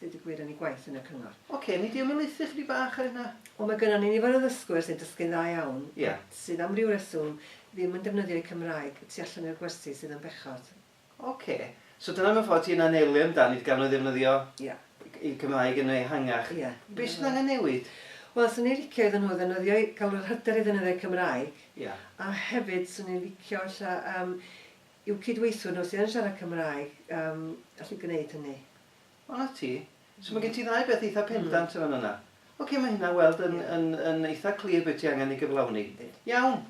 Deud y gwir yn ei gwaith yn y cyngor. Ocê, nei di ymelaethu chydig bach ar hynna? Wel mae gynnon ni nifer o ddysgwyr sy'n dysgu'n dda iawn Ie. sydd am ryw reswm ddim yn defnyddio eu Cymraeg y tu allan i'r gwersi sydd yn bechod. Ocê. So dyna mewn ffordd ti'n anelu amdan i'r gannoedd ddefnyddio Ie. eu Cymraeg yn ehangach. Ie. Be sydd angen newid? Wel, swn i'n licio iddyn nhw ddefnyddio eu... cael yr hyder i ddefnyddio'u Cymraeg. Ie. A hefyd swn i'n licio ella yym i'w cydweithwyr nhw sydd yn siarad Cymraeg yym allu gwneud hynny. O 'na ti. So ma' gen ti ddau beth eitha pendant yn fan'na. Ocê ma' hynna weld yn yn yn eitha clir be' ti angen ei gyflawni. Iawn.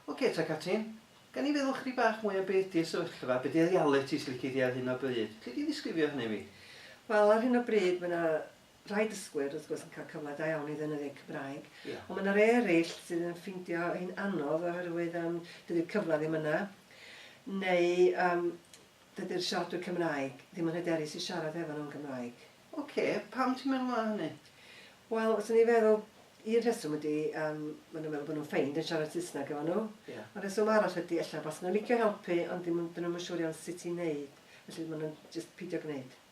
Ocê ta Catrin, gawn ni feddwl chydig bach mwy am be' ydi'r sefyllfa, be' 'di dy allet ti os lici di ar hyn o bryd. Alli di ddisgrifio hynny i mi? Wel ar hyn o bryd ma' 'na rhai dysgwyr, wrth gwrs, yn cael cyfle da iawn i ddefnyddio'u Cymraeg, ond mae yna rei eraill sydd yn ffeindio hi'n anodd oherwydd um, dydy'r cyfle ddim yna, neu um, dydy'r siaradwyr Cymraeg ddim yn hyderus i siarad efo nhw'n Gymraeg. Oce, okay, pam ti'n meddwl na hynny? Wel, os ni'n feddwl, un rheswm ydy, um, maen nhw'n meddwl bod nhw'n ffeind yn siarad Saesneg efo nhw. Yeah. Ond rheswm arall ydy, efallai, bas nhw'n licio helpu, ond ddim, dyn nhw'n siŵr iawn sut i'n neud. Felly maen nhw'n just pidio gwneud.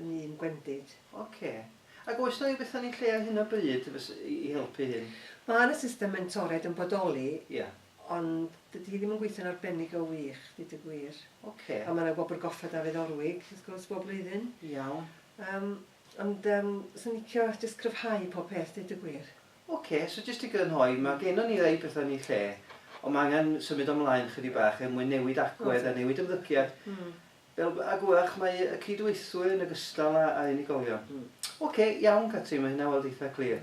yn un gwendid. Ocê. Ac oes 'na ryw beth yn ei lle ar hyn o bryd fys- i i helpu hyn? Mae 'na system mentoriaid yn bodoli... Ie. ...ond dydy hi ddim yn gweithio'n arbennig o wych, deud y gwir. Ocê. A mae 'na Wobr Goffa Dafydd Orwig, wrth gwrs, bob blwyddyn. Iawn. Yym, ond yym, 'swn i'n licio jyst cryfhau pob peth, deud y gwir. Ocê, so jyst i grynhoi, mae gennon ni rai petha yn eu lle, ond mae angen symud o mlaen chydig bach er mwyn newid agwedd a newid ymddygiad. Fel bag wach mae y cydweithwyr yn ogystal â a unigolion. Ok, iawn Catrin, mae hynna weld eitha clir.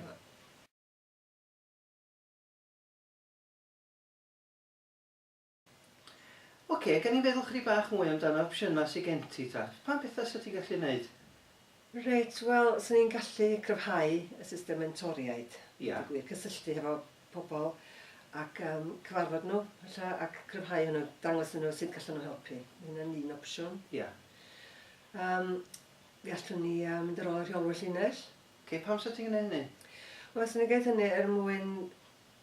Ok, gawn ni feddwl chydig bach mwy amdano opsiynau sy gen ti ta? Pa bethau 'set ti'n gallu 'neud? Reit, wel, 'swn i'n gallu cryfhau y system mentoriaid, deud y gwir, cysylltu hefo pobl ac yym cyfarfod nhw ella ac cryfhau hwnnw, dangos iddyn nhw sut gallen nhw helpu. Mae hynna'n un opsiwn. Ie. Yym, fe allwn ni yy mynd ar ôl y rheolwyr llinell. Ocê, pam 'sa ti'n gwneud hynny? Wel, 'swn i'n gwneud hynny er mwyn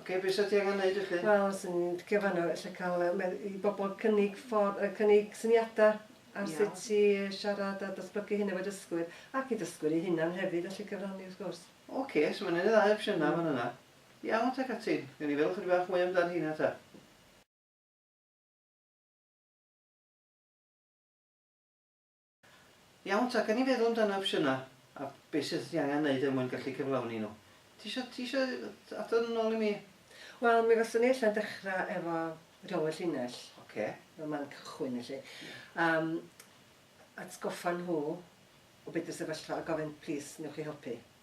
Ocê, be sa ti angen neud i chi? Wel, swn i'n licio fan'na ella ca'l yy medd- i bobol cynnig ffor- yy cynnig syniada ar Iawn. sut i yy siarad a datblygu hyn efo dysgwyr, ac i dysgwyr eu hunan hefyd allu cyfrannu wrth gwrs. Ocê, so ma' 'na un neu ddau opsiyna yn fan yna. Iawn ta Catrin, gewn ni feddwl chydig bach mwy amdan rheina ta. Iawn ta, gawn ni feddwl amdano opsiynau a beth sydd ei angen wneud er mwyn gallu cyflawni nhw. Ti isio, ti isio adrodd yn ôl i mi? Wel, mi faswn i ella'n dechrau efo rheolwyr llinell. Ocê. Fel man cychwyn felly. Yym, atgoffa nhw o be' 'di'r sefyllfa a gofyn, 'Plîs, wnewch chi helpu?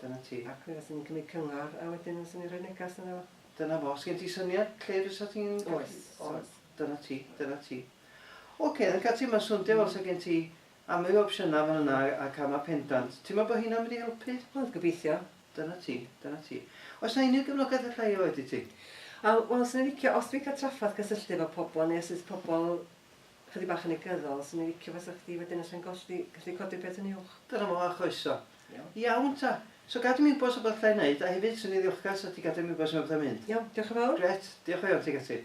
Dyna ti. Ac fe fyswn i'n cymryd cyngor a wedyn fyswn i'n rhoi negas yna fo. Dyna fo. Sgen ti syniad lle fysa ti'n... Oes, oes. Dyna ti, dyna ti. Ocê, yn cael ti, mae'n swndio fel 'sa gen ti amryw o opsiynau fan yna a camau pendant. Ti'n meddwl bod hynna'n mynd i helpu? Wel, gobeithio. Dyna ti, dyna ti. Oes 'na unrhyw gefnogaeth alla i roid i ti? Wel, 'swn i'n licio, os dwi'n cael trafferth cysylltu efo pobl neu os oes pobl Chydig bach yn negyddol, swn i'n licio fasa chdi wedyn alla'n golli, gallu codi'r peth yn uwch. Dyna fo, a chroeso. Iawn. Iawn ta. So gad i mi wybod os 'na rwbath allai neud, a hefyd swn i'n ddiolchgar 'sa chdi gadel i mi wybod os 'na rwbath allai mynd. Iawn, diolch yn fawr. Grêt, diolch o iawn tuag ati.